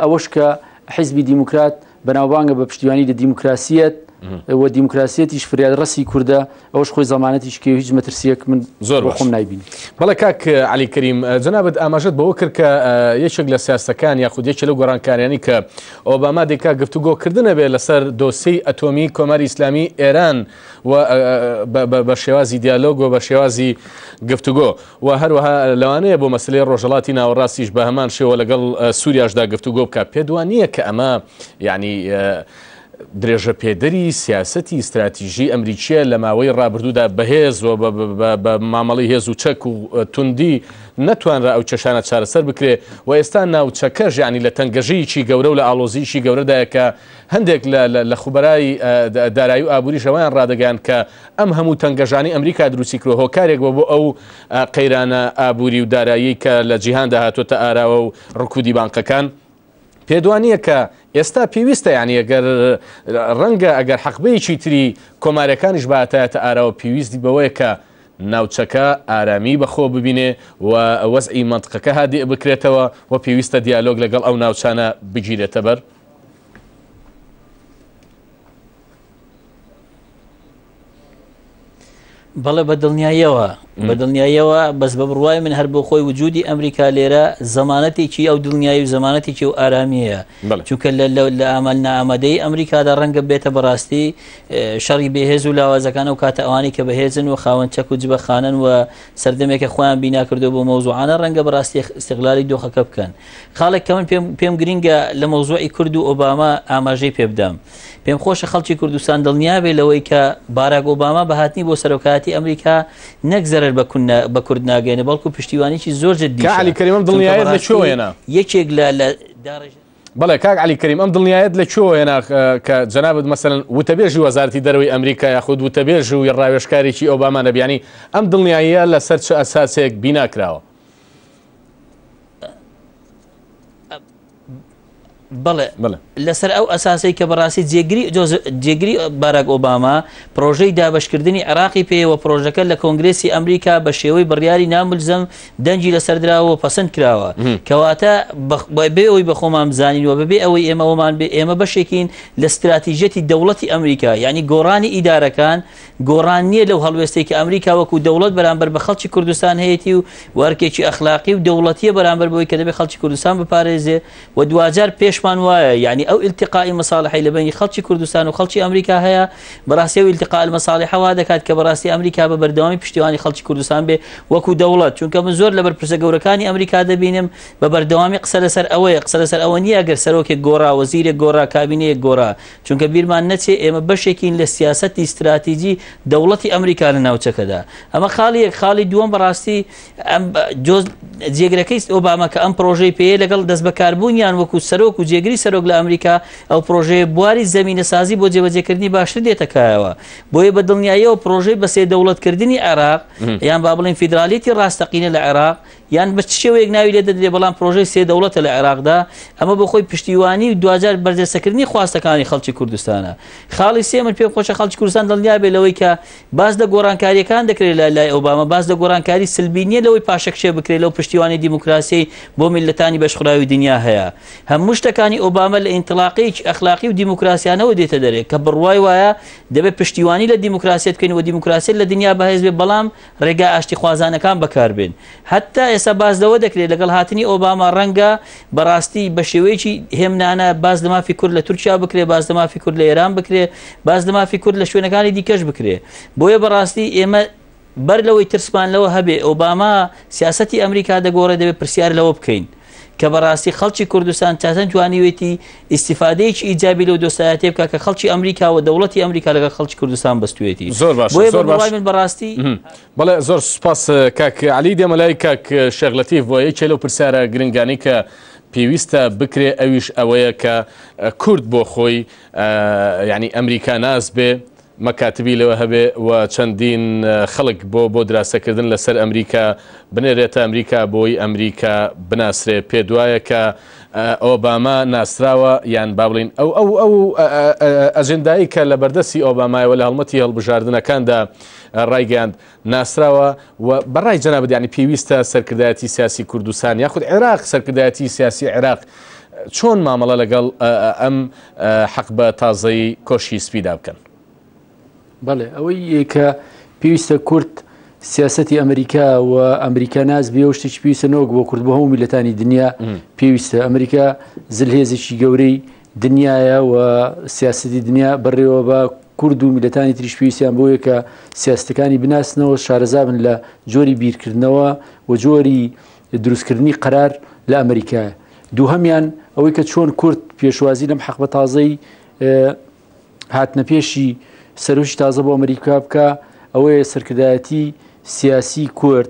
ئەوەش کە حیزبی دیموکرات بەناوبانگە بە پشتیوانی لە دیموکراسیەت و دیموکراسیەتیش فریاد ڕستی کووردە ئەوش خۆی زمانەتیش کە هیچ مەترسیەک من زۆر بەخۆم نایبین بەڵێ کاک علی کریم جنابەت ئاماژت بەوە کرد کە یەکێک لە سیاسەکان یاخود یەکێ لە گۆڕانکاریانی کە ئۆباما دێکا گفتوگۆکردنە بێ لەسەر دۆسی ئەتۆمی کۆماری ئیسلامی ئێران و بە شێوازی دیالۆگ و بە شێوازی گفتوگۆ و هەروەها لەوانەیە بۆ مەسەلەی ڕۆژهەڵاتی ناوەڕاستیش بە هەمان شێوە لەگەڵ سووریاشدا گفتوگۆ بکات، پێت وا نییە کە ئەمە یانی درێژەپێدەری سیاسەتی ستراتیژیی ئەمریکییە لە ماوەی ڕابردوودا بەهێز و بە مامەڵەی هێز و چەک و توندی نەتوانرا ئەو کێشانە چارەسەر بکرێت و ئێستا ناوچەکەش یانی لە تەنگەژییکی گەورە و لە ئاڵۆزییکی گەورەدایە کە هەندێک لە لە خوبەرای دارایی و ئابووریش ئەوەیان ڕادەگەیاند کە ئەم هەموو تەنگەژانەی ئەمریکا دروستی کرۆ هۆکارێک بۆ بۆ ئەو قەیرانە ئابووری و دارایی کە لە جیهاندا هاتوتە ئاراوە و ڕکودی بانقەکان پێدوانیە کە ئێستا پێویستە یانی ئەگەر ڕەنگە ئەگەر حەقبەیەکی تری کۆمارەکانیش باتایەتە ئاراوە پێویستی بەوەیە کە ناوچەکە ئارامی بەخۆ ببینێ و وەزعی منطقەکە هادئ بکرێتەوە و پێویستە دیالۆگ لەگەڵ ئەو ناوچانە بگیرێتە بەر بەڵێ بە دڵنیاییەوە بە دڵنیاییەوە بەس بە بڕوای من هەر بۆ خۆی وجودی ئەمریکا لێرە زمانەتێکی ئەو دڵنیایی و زمانەتێکی و ئارامیەیە چونکە لە ئامال نامەدەی ئەمریکادا ڕەنگە بێتە بەڕاستی شەڕی بەهێز و لاوازەکان و کاتە ئەوانی کە بەهێزن و خاوەن چەک و جبە خانن و سەردەمێکە خۆیان بیناکردو بۆ مەوزوعانە ڕەنگە بەڕاستی استقلالی دۆخەکە بکەن خاڵێک کە من پێم پێم گرنگە لە مەوزوعی کورد و ئۆباما ئاماژەی پێ بدەم پێم خۆشە خەڵکی کوردستان دڵنیابێ لەوەی کە باراک ئۆباما بە هاتنی بۆ سەرۆکایەتی ئەمریکا نەک زەرەر بە کون بە کورد ناگەێنە بەڵکو پشتیوانیی زۆر جدی کە علی کەریمم دڵنیایەت لە شوێنە یەکێک لە لە داڕێژ بەڵێ کاک علی کەریم ئەم دڵنیایەت لە چۆ هێنا کە جەنابەت مەسەن وتەبێژی وەزارتی دەروی ئەمریکا یاخود وتەبێژ و ڕاوێشکارێکی ئەوبامانە بیانی ئەم دڵنیاییە لەسەر چ ئەساسێک بیناکراوە بەڵێ لەسەر ئەو ئەساسی کە بەڕاستی جێگری جێگری باراک ئۆباما پرۆژەی دابشکردنی عراقی پێوە پرۆژەکە لە کۆنگرسی ئەمریکا بە شێوەی بڕیاری ناملزم دەنگی لەسەردراوە پسند کراوە کەواتە بێ ئەوی بەخۆمان بزانین و بەبێ ئەوەی ئێمەوەمان بێ ئێمە بەشێکین لە استراتیژەتی دەوڵەتی ئەمریکا یعنی گۆڕانی ئیدارەکان گۆڕان نییە لەو هەڵوێستەی کە ئەمریکا وەکوو دەوڵەت بەرامبەر بە خەڵکی کوردستان هەیەتی و و ئەرکێکی ئەخلاقی و دەوڵەتییە بەرامبەر بەوەی کە دەبێ خەڵکی کوردستان بپارێزێ و دواجار پێشمان وایە یانی ئەو التقاء مصالحەی لە بەینی خەڵکی کوردستان و خەڵکی ئەمریکا هەیە بەڕاستی ئەو التقاء المصالحە وا دەکات کە بەڕاستی ئەمریکا بە بەردەوامی پشتیوانی خەڵکی کوردستان بێ وەکوو دەوڵەت چونکە من زۆر لە بەرپرسە گەورەکانی ئەمریکا دەبینم بە بەردەوامی قسە لەسەر ئەوەیە قسە لەسەر ئەوە نییە ئەگەر سەرۆکێک گۆڕا وەزیرێک گۆڕا کابینەیەک گۆڕا چونکە بیرمان نەچێ ئێمە بەشێکین لە سیاسەتی ستراتیجی دەوڵەتی ئەمریکا لە ناوچەکەدا ئەمە خاڵی یەک خاڵی دووەم بەڕاستی جێگرەکەی ئۆباما کە ئەم پرۆژەی پێ لەگەڵ دەست بەکاربوونیان وەکو سەرۆک و جێگری سەرۆک لە ئەمریکا ئەو پرۆژەیە بواری زمینە سازی بۆ جێبەجێکردنی باشتر دێتەکایەوە بۆیە بە دڵنیاییەوە پرۆژەی بەسێ دەوڵەتکردنی عێراق یان با بڵین فیدرالیتی ڕاستەقینە لە عێراق یان بە چ شێوەیەک ناوی لێ دەدرێت، بەڵام پرۆژەی سێ دەوڵەتە لە عێراقدا، ئەمە بۆ خۆی پشتیوانی و دواجار بەرجەستەکردنی خواستەکانی خەڵکی کوردستانە. خاڵی سێ، من پێم خۆشە خەڵکی کوردستان دڵنیا بێت لەوەی کە باس لە گۆڕانکارییەکان دەکرێت لە لای ئۆباما، باس لە گۆڕانکاری سلبی نییە لەوەی پاشەکشێ بکرێت لەو پشتیوانی دیموکراسیەی بۆ میللەتانی بەشخوراوی دنیا هەیە. هەموو شتەکانی ئۆباما لە ئینتڵاقەیەکی ئەخلاقی و دیموکراسیانەوە دێتە دەرێ، کە بڕوای وایە دەبێت پشتیوانی لە دیموکراسیەت بکەین و دیموکراسیەت لە دنیا بەهێز بێت، بەڵام ڕێگا ئاشتیخوازانەکان بەکاربێن. هەتا ئێستا باس لەوە دەکرێت لەگەڵ هاتنی ئۆباما ڕەنگە بە ڕاستی بە شێوەیەکی هێمنانە باس لە مافی کورد لە تورکیا بکرێت، باس لە مافی کورد لە ئێران بکرێت، باس لە مافی کورد لە شوێنەکانی دیکەش بکرێت. بۆیە بە ڕاستی ئێمە بەر لەوەی ترسمان لەوە هەبێت ئۆباما سیاسەتی ئەمریکا دەگۆڕێت دەبێت پرسیار لەوە بکەین. کە بەڕاستی خەڵکی کوردستان تاتە توانیوێتی ئیسیفادەیەکی ئیجابی لەو دۆستایەتێ بکە کە خەڵکی ئەمریکا و دەوڵەتی ئەمریکا لەگەڵ خەڵکی کوردستان بەستوێتی زۆر باش زۆر باش من بەڕاستی بەڵێ زۆر سپاس کاک علی دێمە لای کاک شێغلەتی بۆ یەکێ لەو پرسیارە گرنگانی کە پێویستە بکرێ ئەویش ئەوەیە کە کورد بۆ خۆی ینی ئەمریکا ناز بێ مەکاتبی لەوە هەبێ و چەندین خەڵک بۆ بۆ دراسە کردن لە سەر ئەمریکا بنێرێتە ئەمریکا بۆی ئەمریکا بناسرێ پێت وایە کە ئۆباما ناسراوە یان با بڵین ئەو ئەو ئەو ئەجندایی کە لە بەردەستی ئۆبامایەوە لە هەڵمەتی هەڵبژاردنەکاندا ڕایگەیاند ناسراوە و بە ڕای جەنابت یانی پێویستە سەرکردایەتی سیاسی کوردستان یاخود عێراق سەرکردایەتی سیاسی عێراق چۆن مامەڵە لەگەڵ ئەم حەقبە تازەی کۆشی سپیدا بکەن؟ بەڵێ ئەوەی کە پێویستە کورد سیاستی ئەمریکا و ئەمریکا ناز بێ شتێکی پێویستە نەوەک بۆ کورد بۆ هەموو میلەتانی دنیا پێویستە ئەمریکا زلهێزێکی گەورەی دنیایە و سیاسەتی دنیا بەڕێوەبا، کورد و میللەتانی تریش پێویستیان بەوەیە کە سیاسەتەکانی بناسنەوە، شارەزابن لە جۆری بیرکردنەوە و جۆری دروستکردنی قەرار لە ئەمریکایە. دووهەمیان ئەوەی کە چۆن کورد پێشوازی لەم حەقبە تازەی هاتنەپێشی سەرۆکی تازە بۆ ئەمریکا بکا، ئەوەیە سەرکردایەتی سیاسی کورد،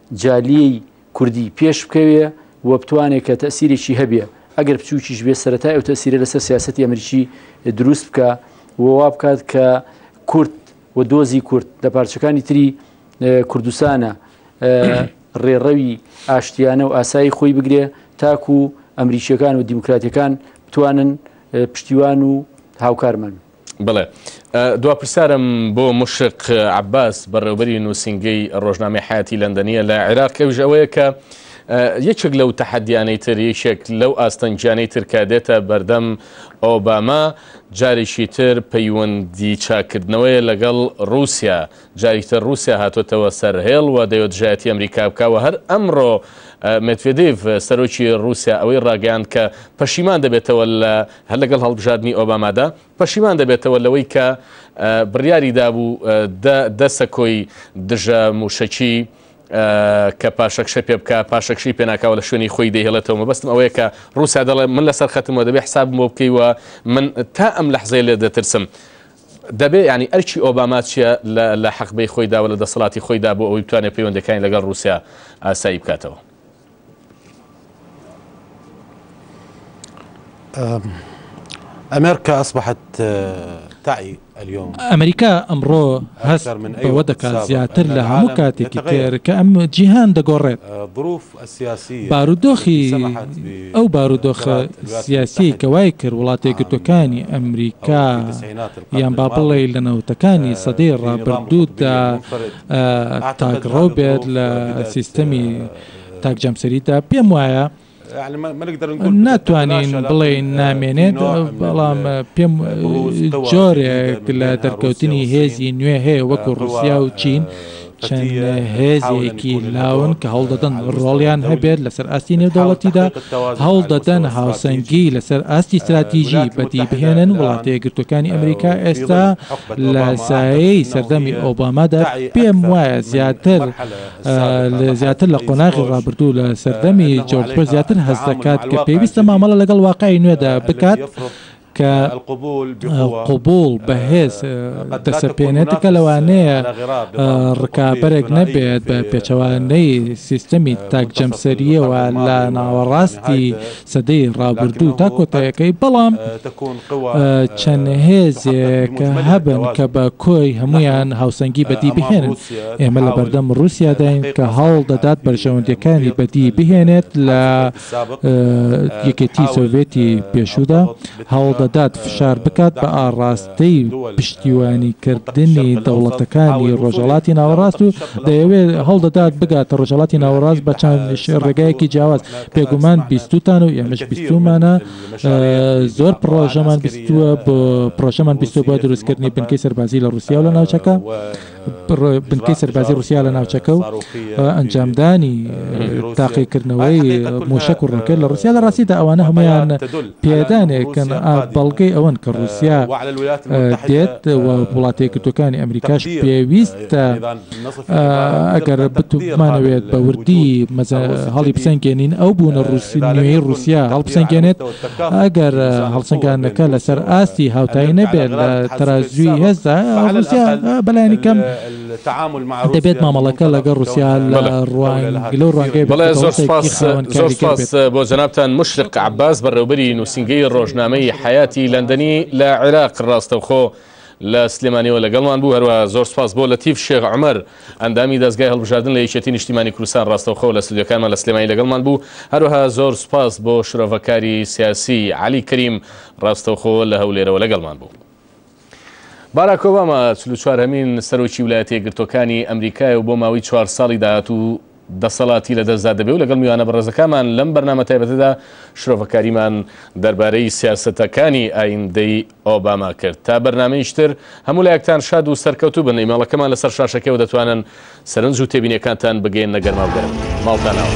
جالیی کوردی پێش بکەوێ و بتوانێ کە تەئسیرێکی هەبێ ئەگەر بچووکیش بێ سەرەتای ئەو تەئسیرە لەسەر سیاسەتی ئەمریکی دروست بکا و وا بکات کە کورد و دۆزی کورد لە پارچەکانی تری کوردستانە ڕێڕەوی ئاشتیانە و ئاسایی خۆی بگرێ تاکوو ئەمریکییەکان و دیموکراتەکان بتوانن پشتیوان و هاوکارمان بن. بەڵێ. دوا پرسیارم بۆ مشرق عەباس، بەڕێوەبەری نووسینگەی ڕۆژنامەی حەیاتی لەندەنییە لە عێراق، ئەویش ئەوەیە کە یەکێک لەو تەحەدیانەی تر، یەکێک لەو ئاستەنگیانەی تر کە دێتە بەردەم ئۆباما، جارێکی تر پەیوەندی چاککردنەوەیە لەگەڵ ڕووسیا. جارێکی تر ڕووسیا هاتۆتەوە سەر هێڵ و دەیەوێت دژایەتی ئەمریکا بکا و هەر ئەمڕۆ مێدڤێدیڤ، سەرۆکی ڕووسیا ئەوەی ڕاگەیاند کە پەشیمان دەبێتەوە لە هەر لەگەڵ هەڵبژاردنی ئۆبامادا پەشیمان دەبێتەوە لەوەی کە بڕیاری دابوو دە دە سەکۆی دژە مووشەکی کە پاشەکشە پێ بکە پاشەکشی پێناکاوە لە شوێنی خۆی دەهێڵێتەوە مەبەستم ئەوەیە کە رووسیا دەڵێ من لەسەر خەتمەوە دەبێ حسابم بۆ بکەیوە من تا ئەم لە حزەیە لێ دەترسم. دەبێ ینی ئەرکی ئۆباما چیە لە حەقبەی خۆیداوە لە دەسەڵاتی خۆیدا بۆ ئەوی بتوانێت پەیوەندەکانی لەگەڵ رووسیا ئاسایی بکاتەوە. ئەمریکا ئەسبحت تاعی ئەلیۆم ئەمریکا ئەمڕۆ هەست من ئەوە دەکات زیاتر لە هەموو کاتێکی تێر کە ئەم جیهان دەگۆڕێت بروف سیاسی بارودۆخی ئەو بارودۆخە سیاسی کەوای کرد وڵاتی گرتوەکانی ئەمریکا یان با بڵێ لە نەوتەکانی سەدەی ڕابردوودا تاگڕۆ بێت لە سیستەمی تاک جەمسەری تا پێم وایە ناتوانین بڵێین نامێنێت بەڵام پێم جۆرێک لە دەرکەوتنی هێزی نوێ هەیە وەکو ڕوسیا و چین چەند هێزێکی لاون کە هەوڵدەدەن ڕۆڵیان هەبێت لەسەر ئاستی نێودەوڵەتیدا هەوڵدەدەن هاوسەنگی لەسەر ئاستی استراتیژی بەدی بهێنن وڵاتە یەکگرتوەکانی ئەمریکا ئێستا لە سایەی سەردەمی ئۆبامادا پێم وایە زیاتر زیاتر لە قۆناغی ڕابردوو لە سەردەمی جۆرج بۆش زیاتر هەست دەکات کە پێویستە مامەڵە لەگەڵ واقعی نوێدا بکات کە قبوڵ بەهێز دەسەپێنێت کە لەوانەیە ڕکابەرێک نەبێت بە پێچەوانەی سیستەمی تاک جەمسەریەوە لە ناوەڕاستی سەدەی ڕابردوو تا کۆتایەکەی، بەڵام چەند هێزێک هەبن کە بە کۆی هەموویان هاوسەنگی بەدی بهێنن. ئێمە لە بەردەم ڕووسیاداین کە هەوڵ دەدات بەرژەوەندییەکانی بەدی بهێنێت لە یەکێتیی سۆڤێتی پێشوودا، هەوڵ دەدات فشار بکات بە ئاڕاستەی ی پشتیوانی کردنی دەوڵەتەکانی ڕۆژهەڵاتی ناوەڕاست و دەیەوێت هەوڵدەدات بگاتە ڕۆژهەڵاتی ناوەڕاست بە چەند ڕێگایەکی جیاواز، بێگومان بیستوتان و ئێمەش بیستومانە زۆر پڕۆژەمان بیستوە بۆ پڕۆژەمان بیستوە بۆ دروستکردنی بنکەی سەربازی لە ڕوسیا و لە ناوچەکە. بنکەی سەربازی ڕوسیا لە ناوچەکە و ئەنجامدانی تاقیکردنەوەی موشک و ڕۆکێت لە ڕوسیا لە ڕاستیدا ئەوانە هەمویان پێدانێکن بەڵگەی ئەوەن کە ڕوسیا دێت و وڵاتی کردەکانی ئەمریکاش پێویستە ئەگەر بتوانەوێت بە وردی مەزە هەڵی بسەنگێنین ئەو بوونە ڕوسینەوەی ڕوسیا هەڵبسەنگێنێت ئەگەر هەڵسەنگاندنەکە لەسەر ئاستی هاوتایی نەبێت لە تەرازووی هێزدا، ڕووسیا بەلایەنی کەم دەبێت مامەڵەکە لەگەڵ ڕووسیا لە ڕوانگەی بەرپرسایەتیی خاوەن کاریگەر بێت. زۆر سوپاس بۆ جەنابتان مشرق عەباس، بەڕێوبەری نووسینگەی ڕۆژنامەی حەیاتی لەندەنی لە عێراق. ڕاستەوخۆ لە سلێمانیەوە لەگەڵمان بوو، هەروەها زۆر سپاس بۆ لەتیف شێخ عومەر ئەندامی دەزگای هەڵبژاردن لە یەکێتی نیشتیمانی کوردستان ڕاستەوخۆ لە ستۆدیۆکانمان لە سلێمانی لەگەڵمان بوو، هەروەها زۆر سپاس بۆ شرۆڤەکاری سیاسی عەلی کەریم ڕاستەوخۆ لە هەولێرەوە لەگەڵمان بوو. باراک ئۆباما چل و چوار هەمین سەرۆکی ولایەتە یەکگرتووەکانی ئەمریکایە و بۆ ماوەی چوار ساڵی داهاتوو، دەسەڵاتی لەدەستدا دەبێ و لەگەڵ میوانە بەڕێزەکانمان لەم بەرنامە تایبەتەدا شرۆڤەکاریمان دەربارەی سیاسەتەکانی ئایندەی ئۆباما کرد. تا بەرنامەیش تر هەموو لایەکتان شاد و سەرکەوتوو بن، ئیمێڵەکەمان لەسەر شاشەکەوە دەتوانن سەرنج و تێبینیەکانتان بگەیەننە گەرما و گەرم. ماڵتان ناوە.